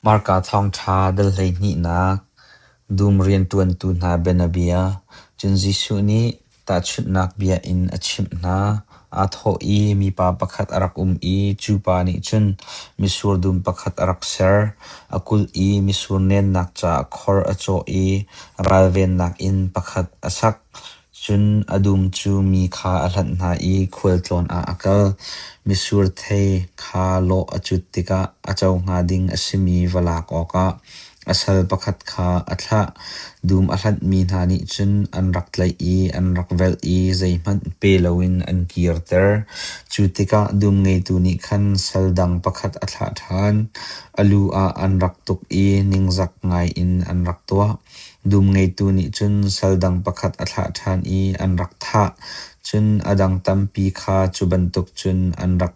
Hmarka thawngṭha dal hleihnihnak dum rianṭuantu hna bianabia. Cun Jesuh nih tahchunhnak bia in a chimh hna. Aa thawh i mipa pakhat a rak um i cu pa nih cun mitsur dum pakhat a rak ser. A kulh i mitsur nennak caah khor a cawh i ralvennak in pakhat a sak. Cun a dum cu mi kha a hlanh hna i khualtlawn ah a kal. Mitsur thei kha lawh a cut tikah a co hnga ding a simi va lak awkah a sal pakhat kha a thlah. Dum a hlanhmi hna nih cun an rak tlaih i an rak velh i zeihmanh pe loin an kirter. Cu tikah dum ngeitu nih khan sal dang pakhat a thlah ṭhan. A lu ah an rak tuk i ningzak ngaiin an rak tuah. Dum ngeitu nih cun sal dang pakhat a thlah ṭhan i an rak thah. Cun a dang tampi kha cu bantuk cun an rak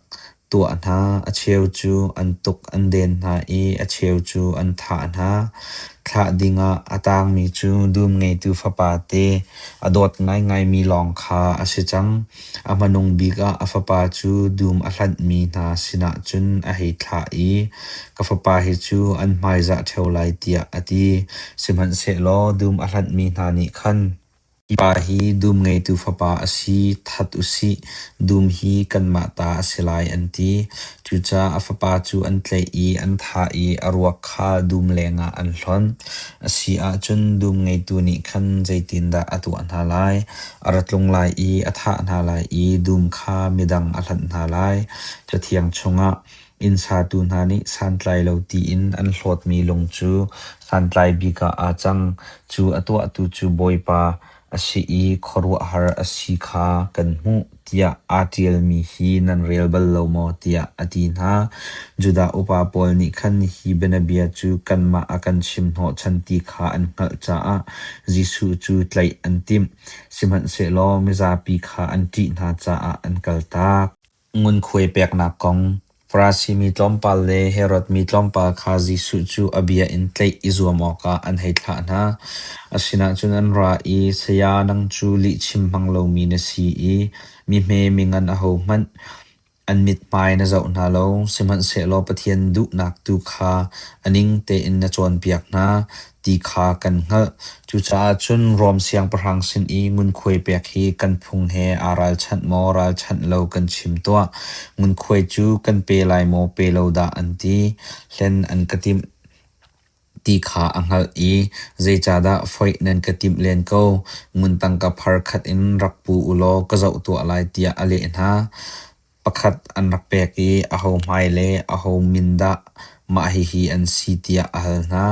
tuah hna. A cheu cu an tuk an den hna i a cheu cu an thah hna. Thlah dingah a tangmi cu dum ngeitu fapa te a dawt ngaingaimi lawng kha a si cang. A hmanung bik ah a fapa cu dum a hlanhmi hna sinah cun a hei thlah i ka fapa hi cu an hmaizah ṭheo lai tiah a ti. Sihmanhsehlaw dum a hlanhmi hna nih khan, Mipa hi dum ngeitu fapa a si, that u sih, dum hi kanmah ta a si lai, an ti. Cucaah a fapa cu an tlaih i an thah i a ruak kha dum lengah an hlonh. A si ahcun dum ngeitu nih khan zeitindah a tuah hna lai? A ra tlung lai i a thah hna lai i dum kha midang a hlanh hna lai. Cathiang chungah, Inn satu hna nih santlai lo tiin an hlawtmi lung cu santlai bik ah aa cang. Cu a tuahtu cu Bawipa a si i khuaruahhar a si kha kan hmuh tiah aa ṭialmi hi nan rel bal lo maw? tiah a ti hna. Judah upa pawl nih khan hi bianabia cu kanmah a kan chimhnawhchan ti kha an hngalh caah Jesuh cu tlaih an timh, sihmanhsehlaw mizapi kha an ṭih hna caah an kaltak. Ngunkhuai peknak kong Farasi mi tlawmpal le Herod mi tlawmpal kha Jesuh cu a bia in tlaih i zuam awkah an hei thlah hna. A sinah cun an ra i, Saya, nang cu lihchim hmang lomi na si i mi hme mi ngan ahohmanh An mithmai na zoh hna lo, sihmanhsehlaw Pathian duhnak tu kha a ning tein na cawnpiak hna ti kha kan hngalh. Cucaah cun Rom siangpahrang sin i ngunkhuai pek hi kan phung he aa ralchanh maw ralchanh lo kan chim tuah. Ngunkhuai cu kan pe lai maw pe lo dah an ti. Hlen an ka timh. ti kha a hngalh i, “Zeicahdah foih nan ka timh len ko? Ngun tangka phar khat in rak pu u law ka zoh tuah lai,” tiah a leh hna. Pakhat an rak pek i aho hmai le aho min dah mah hihi an si tiah a hal hna.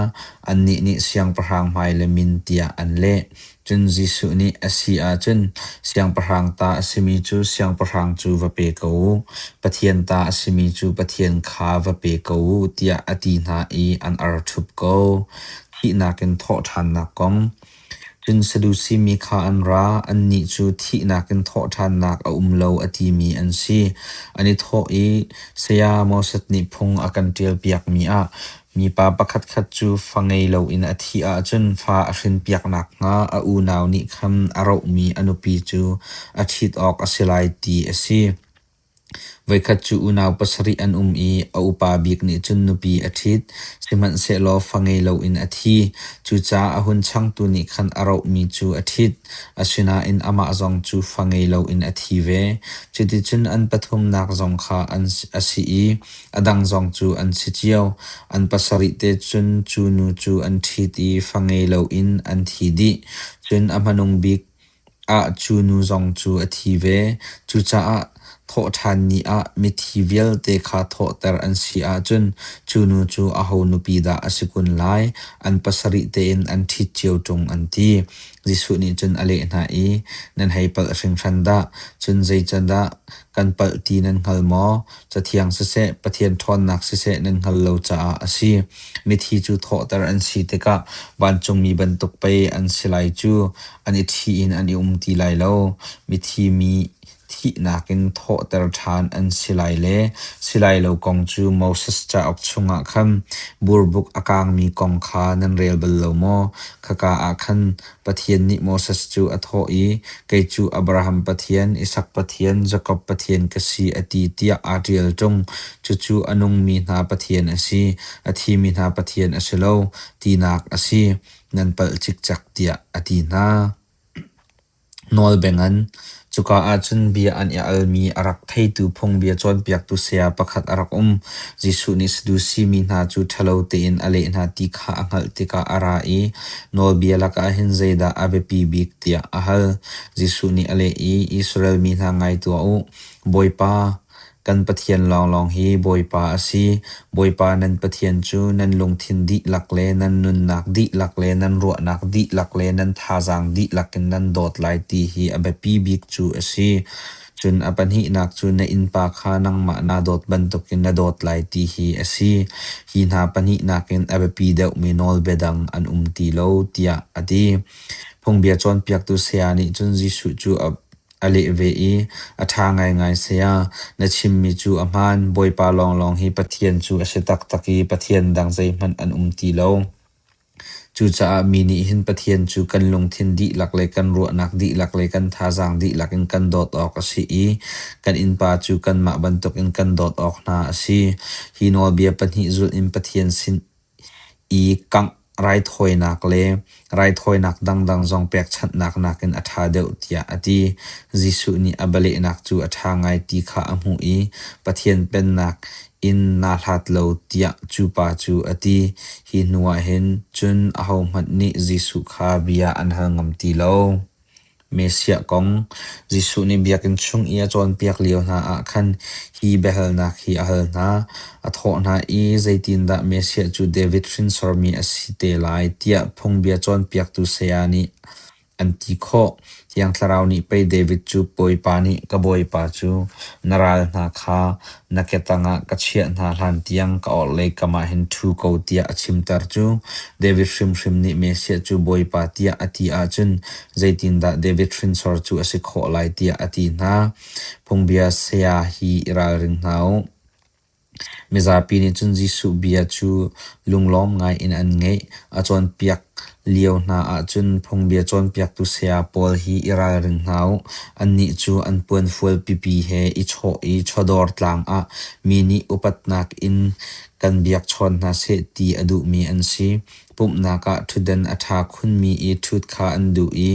Annih nih siangpahrang hmai le min tiah an leh. Cun Jesuh nih a si ahcun Siangpahrang ta a simi cu Siangpahrang cu va pe ko u, Pathian ta a simi cu Pathian kha va pe ko u tiah a ti hna i an arṭhup ko. Thihnak in thawhṭhannak kong Cun Sadusi mi kha an ra, annih cu thihnak in thawhṭhannak a um lo a timi an si. An i thawh i, Saya Moses nih phung a kan ṭialpiakmi ah Mipa pakhatkhat cu fa ngei loin a thih ahcun fa a hrinpiak nakhnga a unau nih khan a rohmi a nupi cu a ṭhit awk a si lai ti a si. Voikhat cu unau pasarih an um i a upa bik nih cun nupi a ṭhit, sihmanhsehlaw fa ngei loin a thi. Cucaah a hun changtu nih khan a rohmi cu a ṭhit, asinain amah zong cu fa ngei loin a thi ve. Cuticun an pathumnak zong kha an a si i A dang zong cu an si cio. An pasarih te cun cu nu cu an ṭhit i fa ngei loin an thi dih. Cun a hmanung bik ah cu nu zong cu a thi ve. Cucaah thawhṭhan ni ah mithi vialte kha thawhter an si ahcun cu nu cu aho nupi dah a si kun lai? An pasarih tein an ṭhit cio ṭung an ti. Jesuh nih cun a leh hna i, Nan hei palh hringhran dah! Cun zeicadah Kan palh ti nan hngal maw? Cathiang siseh, Pathian ṭhawnnak siseh nan hngal lo caah a si. Mithi cu thawhter an si tikah vancungmi bantuk pei an si lai cu. An i ṭhi in an i um ti lai lo. Mithi mi thihnak in thawhter ṭhan an si lai le si lai lo kong cu Moses cauk chungah khan burbuk a kaangmi kong kha nan rel bal lo maw? Khaka ah khan Pathian nih Moses cu a thawh i, Kei cu Abraham Pathian, Isak Pathian, Jakob Pathian ka si, a ti tiah aa ṭial ṭung. Cucu a nungmi hna Pathian a si, a thimi hna Pathian a si lo, tinak a si. Nan palh cikcek, tiah a ti hna. Nawl bengin Cuka ahcun bia an i almi a rak theitu phungbia cawnpiaktu saya pakhat a rak um. Jesuh nih Sadusi mi hna cu ṭhalo tein a leh hna ti kha a hngalh tikah a ra i nawlbia lakah hin zeidah a biapi bik tiah a hal. Jesuh nih a leh i Israel mi hna ngai tuah u, Bawipa, Kan Pathian lawnglawng hi Bawipa a si. Bawipa nan Pathian cu nan lungthin dihlak le nan nunnak dihlak le nan ruahnak dihlak le nan thazaang dihlak in nan dawt lai ti hi a biapi bik cu a si. Cun a pahnihnak cu na innpa kha nangmah naa dawt bantukin na dawt lai ti hi a si. Hi hna pahnihnak in a biapi deuhmi nawlbia dang an um ti lo tiah a ti. Phungbia cawnpiaktu saya nih cun Jesuh cu a a leh ve i, A ṭha ngaingai saya, na chimmi cu a hmaan. Bawipa lawnglawng hi Pathian cu a si taktak i Pathian dang zeihmanh an um ti lo. Cucaah mi nih hin Pathian cu kan lungthin dihlak le kan ruahnak dihlak le kan thazaang dihlak in kan dawt awk a si i kan innpa cu kanmah bantukin kan dawt awk hna a si. Hi nawlbia pahnih zulh in Pathian sin i kangh raithawinak le raithawinak dangdang zong pekchanhnak nakin a ṭha deuh tiah a ti. Jesuh nih a bialehnak cu a ṭha ngai ti kha a hmuh i Pathian Pennak in naa hlat lo tiah cu pa cu a ti. Hi hnuah hin cun ahohmanh nih Jesuh kha bia an hal ngam ti lo. Messiah kong Jesuh nih biakinn chung i a cawnpiak lio hna ah khan hi biahalnak hi a hal hna, a thawh hna i zeitindah Messiah cu David hrinsormi a si te lai tiah phungbia cawnpiaktu saya nih an ti khawh. Thiang Thlarau nih pei David cu Bawipa nih ka Bawipa cu na ral hna kha Na ketang ah ka chiah hna hlan tiang ka orhlei kam ah hin ṭhu ko tiah a chimter cu. David hrimhrim nih Messiah cu Bawipa tiah a ti ahcun zeitindah David hrinsor cu a si khawh lai tiah a ti hna. Phungbia saya hi i ralring hna u. Mizapi nih cun Jesuh bia cu lunglawm ngaiin an ngaih, a cawnpiak Lio hna ahcun phungbia cawnpiaktu saya pawl hi i ralring hna u. Annih cu an puanfual pipi he i chawh i chawdawr tlang ah mi nih upatnak in kan biakchawn hna seh ti a duhmi an si. Pumhnak ah ṭhutdan a ṭha khunmi i ṭhut kha an duh i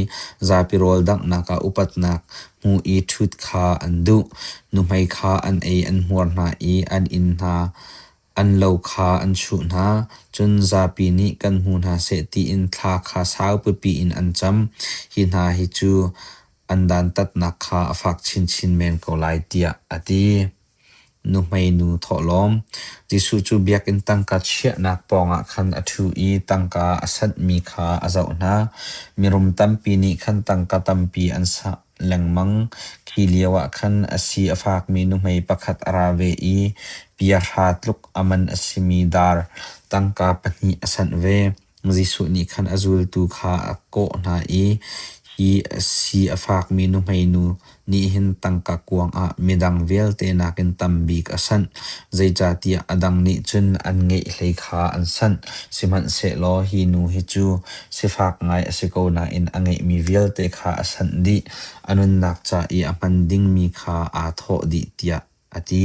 zapi rawl danghnak ah upatnak hmu i ṭhut kha an duh. Nuhmei kha an ei an hmuar hna i an inn hna An lo kha an chuh hna, cun zapi nih kan hmu hna seh tiin thla kha sau pipi in an cam. Hi hna hi cu an dantatnak kha a fak chinchin men ko lai tiah a ti. Nuhmeinu thawhlawm Jesuh cu biakinn tangka chiahnak pawngah khan a ṭhu i tangka a sanhmi kha a zoh hna. Mirum tampi nih khan tangka tampi an sa. lengmang. Khi lio ah khan a si a fakmi nuhmei pakhat a ra ve i piahra tluk a man a simi dar tangka pahnih a sanh ve. Jesuh nih khan a zultu kha a kawh hna i hi a si a fakmi nuhmei nu nih hin tangka kuang ah midang vialte nakin tambik a sanh, zeicahtiah a dang nih cun an ngeih hlei kha an sanh. Sihmanhsehlaw hi nu hi cu sifak ngai a si ko nain a ngeihmi vialte kha a sanh dih, a nunnak ca i a hman dingmi kha aa thawh dih, tiah a ti.